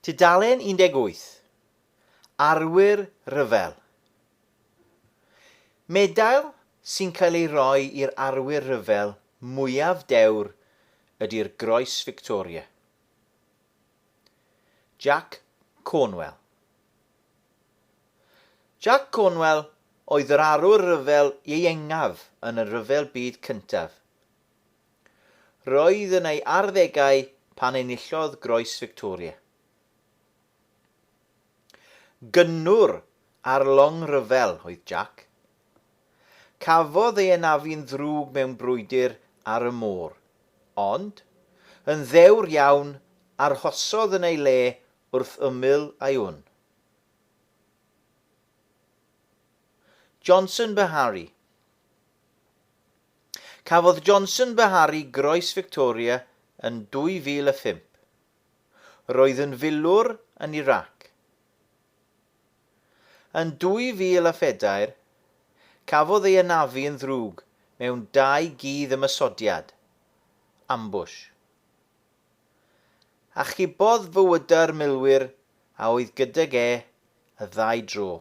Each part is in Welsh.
Tudalen 18, Arwyr Rhyfel Medail sy'n cael ei roi i'r arwyr rhyfel mwyaf dewr ydi'r Groes Victoria. Jack Cornwell Jack Cornwell oedd yr arwr rhyfel ieuengaf yn y Rhyfel Byd Cyntaf. Roedd yn ei arddegau pan enillodd Groes Victoria. Gynnwr ar long ryfel oedd Jack. Cafodd ei anafu'n ddrwg mewn brwydr ar y môr, ond, yn ddewr iawn, arhosodd yn ei le wrth ymyl â'i wn. Johnson Beharry. Cafodd Johnson Beharri Groes Victoria yn 2005. Roedd yn filwr yn Irac. Yn 2004, cafodd ei anafu yn ddrwg mewn dau gudd ymosodiad, ambush. Achubodd fywydau'r milwyr a oedd gydag e y ddau dro.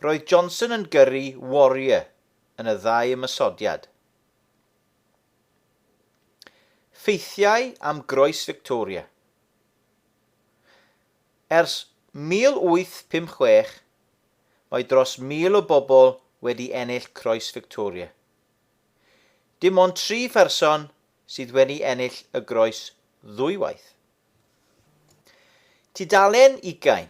Roedd Johnson yn gyrru Warrior yn y ddau ymosodiad. Ffeithiau am groes Victoria. Ers 1856, mae dros 1,000 o bobl wedi ennill Croes Victoria. Dim ond tri pherson sydd wedi ennill y groes ddwywaith. Tudalen ugain.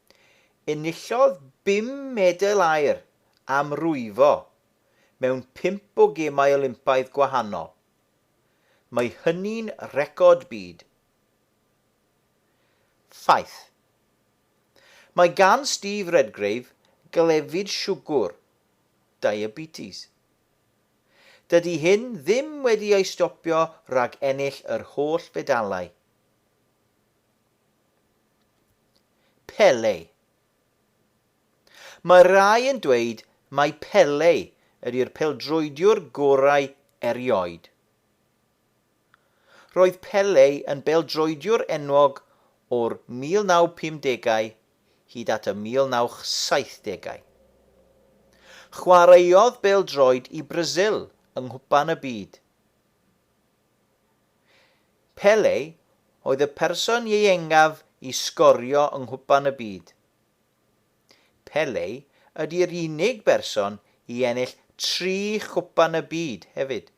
Enillodd bum medal aur am rwyfo mewn pump o Gemau Olympaidd gwahanol. Mae hynny'n record byd. Ffaith. Mae gan Steve Redgrave glefyd siwgwr, diabetes. Dydy hyn ddim wedi ei stopio rhag ennill yr holl fedalau. Pele. Mae rhai yn dweud mai Pele ydi'r peldroediwr gorau erioed. Roedd Pele yn beldroediwr enwog o'r 1950au hyd at y 1970au. Chwaraeodd bêl-droed i Brasil yng Nghwpan y Byd. Pele oedd y person ieuengaf i sgorio yng Nghwpan y Byd. Pele ydi'r unig berson i ennill tri Chwpan y Byd hefyd.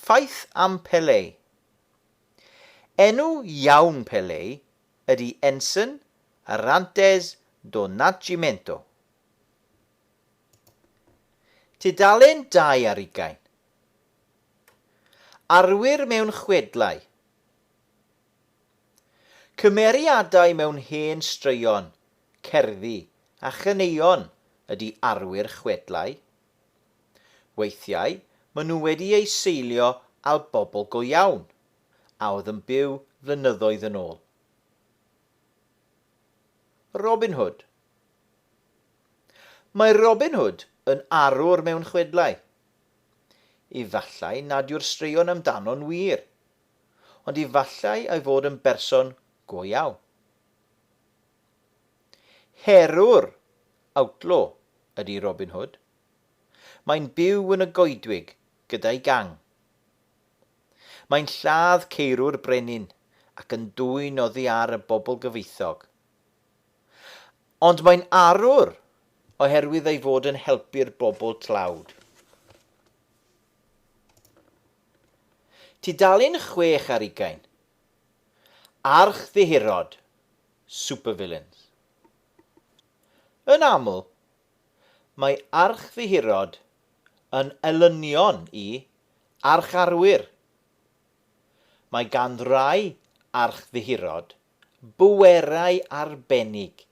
Ffaith am Pele. Enw iawn Pele ydi Enson Arantes do Nascimento. Tudalen dau ar ugain. Arwyr mewn chwedlau. Cymeriadau mewn hen straeon, cerddi a chaneuon ydy arwyr chwedlau. Weithiau maen nhw wedi eu seilio al bobl go iawn a oedd yn byw flynyddoedd yn ôl. Robin Hood, Mae Robin Hood yn arwr mewn chwedlau. Efallai nad yw'r straeon amdano'n wir, ond efallai ei fod yn berson go iawn. Herwr, outlaw, ydy Robin Hood. Mae'n byw yn y goedwig gyda'i gang. Mae'n lladd ceirw'r brenin ac yn dwyn oddi ar y bobl gyfoethog. Ond mae'n arwr oherwydd ei fod yn helpu'r bobl tlawd. Tudalen chwech ar ugain. Archddyhirod, supervillains. Yn aml, mae archddyhirod yn elynion i archarwyr. Mae gan rai archddyhirod Bwerau arbennig.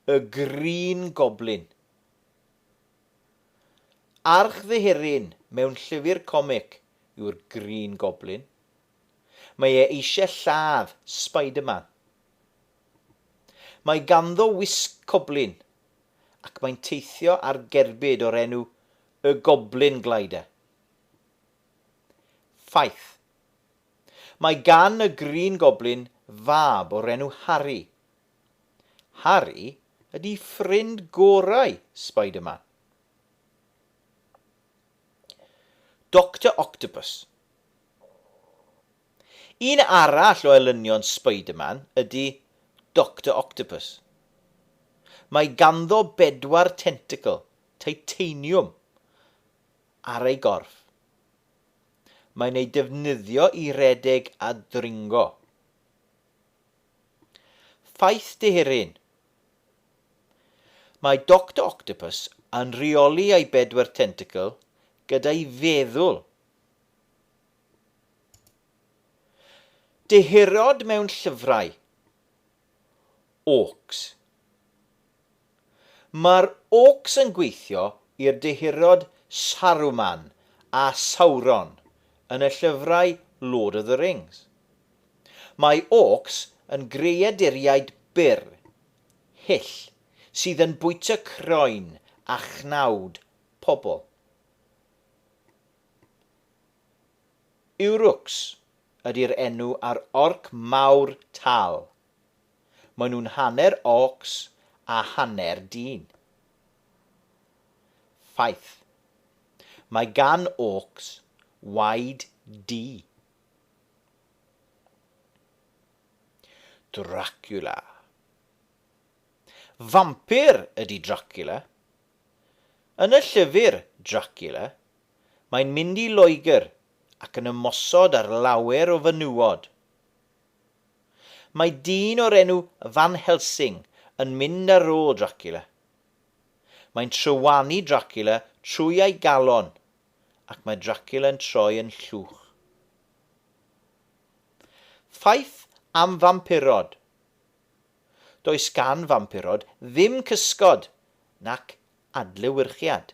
Y Green Goblin. Archddyheryn mewn llyfr comic yw'r Green Goblin. Mae e eisiau lladd Spider-Man. Mae ganddo wisg coblin ac mae'n teithio ar gerbyd o'r enw y Goblin Glider. Ffaith. Mae gan y Green Goblin fab o'r enw Harry. Harry ydi ffrind gorau Spider-Man. Doctor Octopus. Un arall o elynion Spider-Man ydi Doctor Octopus. Mae ganddo bedwar tentacl titaniwm ar ei gorff. Mae'n ei defnyddio i redeg a dringo. Ffaith dehyrun. Mae Doctor Octopus yn rheoli ei bedwar tentacl gyda'i feddwl. Dehyrod mewn llyfrau. Orcs. Mae'r Orcs yn gweithio i'r Dehurod Saruman a Sauron yn y llyfrau Lord of the Rings. Mae Orcs yn greaduriaid byr, hyll, sydd yn bwyta croen a chnawd pobl. Uruks ydy'r enw ar orc mawr tal. Maen nhw'n hanner orcs a hanner dyn. Ffaith. Mae gan orcs waed du. Dracula. Vampyr ydy Dracula. Yn y llyfr Dracula, Mae'n mynd i Loegr ac yn ymosod ar lawer o fenywod. Mae dyn o'r enw Van Helsing yn mynd ar ôl Dracula. Mae'n trywanu Dracula trwy ei galon ac mae Dracula'n troi yn llwch. Ffaith am fampurod Does gan fampurod ddim cysgod nac adlewyrchiad.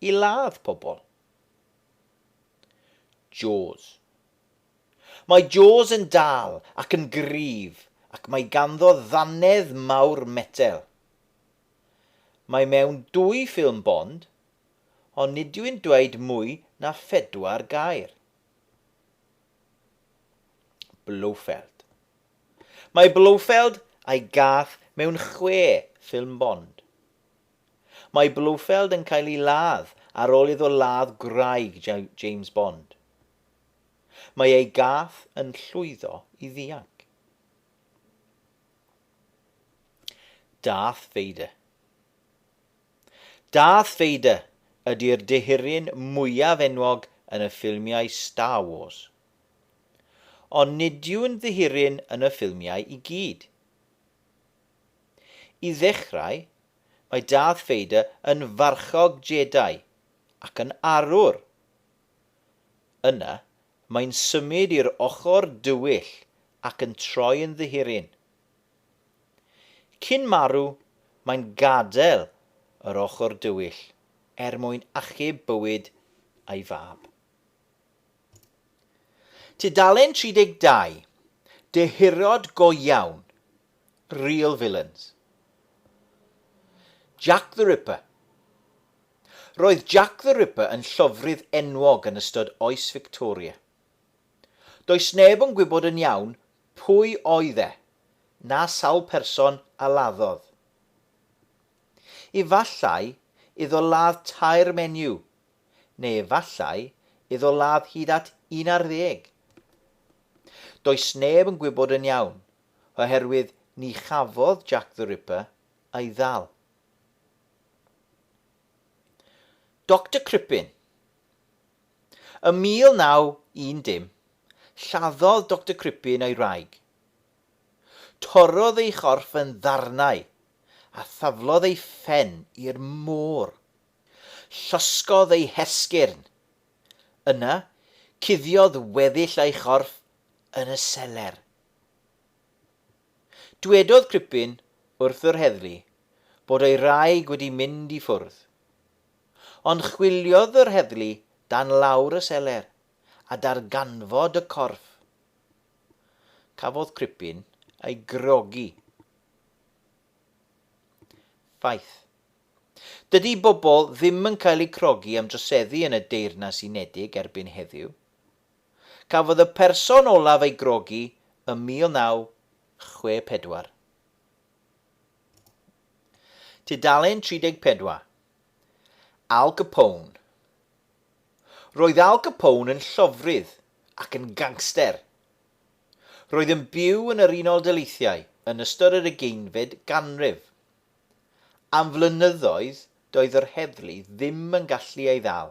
I ladd pobl. Jaws. Mae Jaws yn dal ac yn gryf ac mae ganddo ddannedd mawr metel. Mae mewn dwy ffilm Bond, ond nid yw'n dweud mwy na phedwar gair. Blofeld. Mae Blofeld a'i gath mewn chwe ffilm Bond. Mae Blofeld yn cael ei ladd ar ôl iddo ladd gwraig James Bond. Mae ei gath yn llwyddo i ddianc. Darth Vader Darth Vader ydy'r dehuryn mwyaf enwog yn y ffilmiau Star Wars. Ond nid yw'n ddehuryn yn y ffilmiau i gyd. I ddechrau, mae Darth Vader yn farchog Jedi ac yn arwr. Yna, mae'n symud i'r ochr dywyll ac yn troi yn ddihiryn. Cyn marw, mae'n gadael yr ochr dywyll er mwyn achub bywyd ei fab. Tudalen 32, Dehirod go iawn! Real villains. Jack the Ripper Roedd Jack the Ripper yn llofrudd enwog yn ystod oes Victoria. Does neb yn gwybod yn iawn pwy oedd e, na sawl person a laddodd. Efallai iddo ladd tair menyw, neu efallai iddo ladd hyd at un ar ddeg. Does neb yn gwybod yn iawn, oherwydd ni chafodd Jack the Ripper ei ddal. Doctor Crippen Ym 1910, lladdodd Doctor Crippen ei wraig. Torrodd ei chorff yn ddarnau a thaflodd ei phen i'r môr. Llosgodd ei hesgyrn. Yna, cuddiodd weddill ei chorff yn y seler. Dwedodd Cripin wrth yr heddlu bod ei wraig wedi mynd i ffwrdd. Ond chwiliodd yr heddlu dan lawr y seler a darganfod y corff. Cafodd Cripin ei grogi. Ffaith. Dydy bobl ddim yn cael eu crogi am droseddu yn y Deyrnas Unedig erbyn heddiw. Cafodd y person olaf ei grogi ym 1964. Tudalen 34. Al Capone Roedd Al Capone yn llofrudd ac yn gangster. Roedd yn byw yn yr Unol Daleithiau yn ystod yr ugeinfed ganrif. Am flynyddoedd doedd yr heddlu ddim yn gallu ei ddal.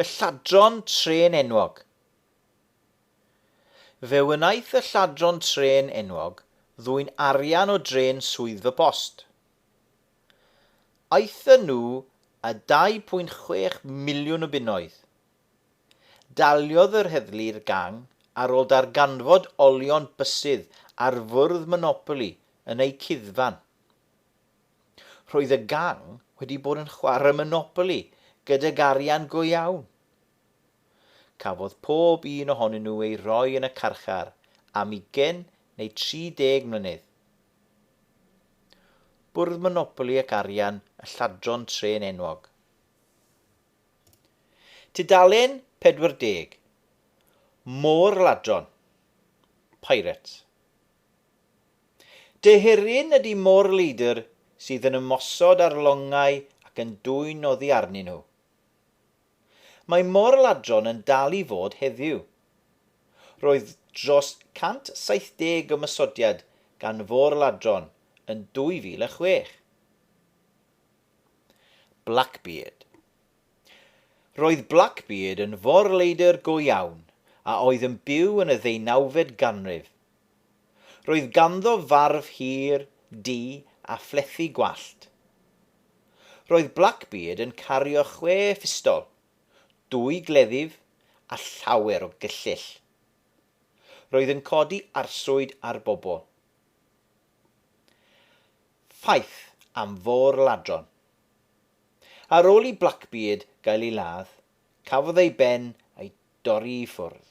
Y lladron trên enwog. Fe wnaeth y lladron trên enwog ddwyn arian o drên Swyddfa Post. Aethon nhw â 2.6 miliwn o bunnoedd. Daliodd yr heddlu i'r gang ar ôl darganfod olion bysydd ar fwrdd Monopoly yn eu cuddfan. Roedd y gang wedi bod yn chwarae Monopoly gydag arian go iawn. Cafodd pob un ohonyn nhw ei roi yn y carchar am ugain neu 30 mlynedd. Bwrdd Monopoly ac Arian y Lladron Trên Enwog. Tudalen 40. Môr Ladron. Pirates. Dy hyrun ydy mo'r leidr sydd yn ymosod ar longau ac yn dwyn oddi arnyn nhw. Mae mor-ladron yn dal i fod heddiw. Roedd dros 170 ymosodiad gan fôr-ladron yn 2006. Blackbeard. Roedd Blackbeard yn forleidr go iawn a oedd yn byw yn y ddeunawfed ganrif. Roedd ganddo farf hir, du a phlethu gwallt. Roedd Blackbeard yn cario chwe phistol, dwy gleddyf a llawer o gyllyll. Roedd yn codi arswyd ar bobl. Ffaith am fôr-ladron. Ar ôl i Blackbeard gael ei ladd, cafodd ei ben ei dorri i ffwrdd.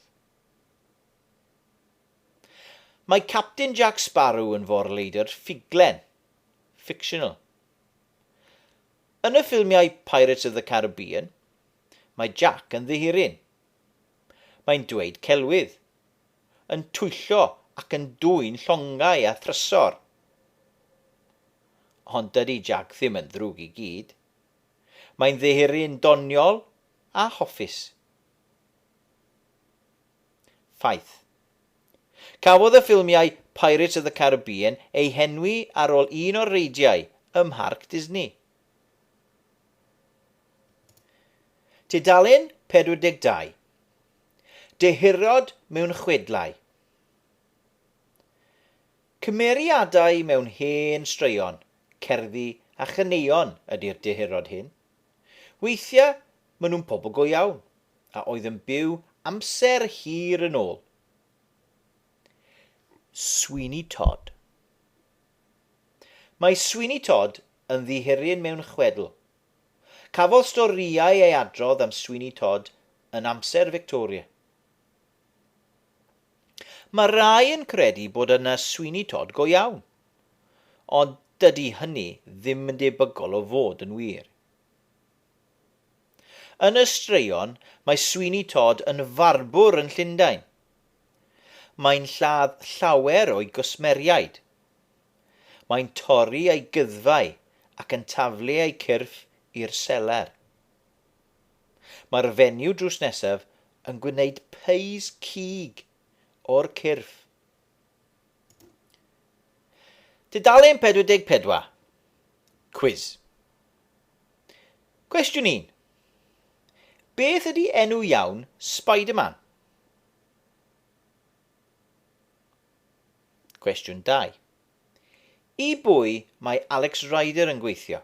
Mae Capten Jack Sparrow yn forleidr ffuglen, fictional. Yn y ffilmiau Pirates of the Caribbean, mae Jack yn ddihiryn. Mae'n dweud celwydd, yn twyllo ac yn dwyn llongau a thrysor. ond dydy Jac ddim yn ddrwg i gyd. Mae'n ddihuru'n doniol a hoffus. Ffaith. Cafodd y ffilmiau Pirates of the Caribbean eu henwi ar ôl un o'r reidiau ym Mharc Disney. Tudalen 42. Dehurod mewn chwedlau. Cymeriadau mewn hen straeon, cerddi a chaneuon ydi'r dehurod hyn. Weithiau maen nhw'n pobl go iawn, a oedd yn byw amser hir yn ôl. Sweeney Todd Mae Sweeney Todd yn ddihiryn mewn chwedl. Cafodd storïau ei adrodd am Sweeney Todd yn amser Victoria. Mae rhai yn credu bod yna Sweeney Todd go iawn, ond dydy hynny ddim yn debygol o fod yn wir. Yn y straeon, mae Sweeney Todd yn farbwr yn Llundain. Mae'n lladd llawer o'i gwsmeriaid. Mae'n torri ei gyddfau ac yn taflu eu cyrff i'r seler. Mae'r fenyw drws nesaf yn gwneud pys cig o'r cyrff. Tudalen 44. Cwis. Cwestiwn 1. Beth ydy enw iawn Spider-Man? Cwestiwn 2. I bwy mae Alex Rider yn gweithio?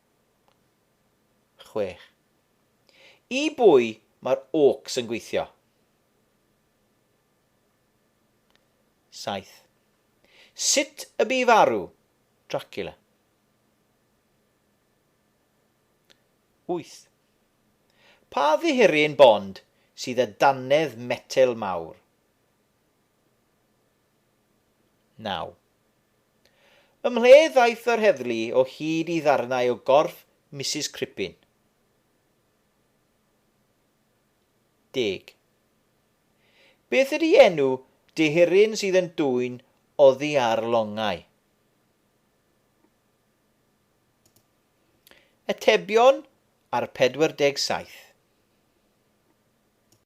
chwech. I bwy mae'r awcs yn gweithio? saith. Sut y bu farw Dracula? wyth. Pa ddihiryn Bond sydd â dannedd metel mawr? Naw. Ymhle ddaeth yr heddlu o hyd i ddarnau o gorff Misus Crippin. Deg. Beth ydy enw dehyryn sydd yn dwyn oddi ar longau? Atebion ar 47.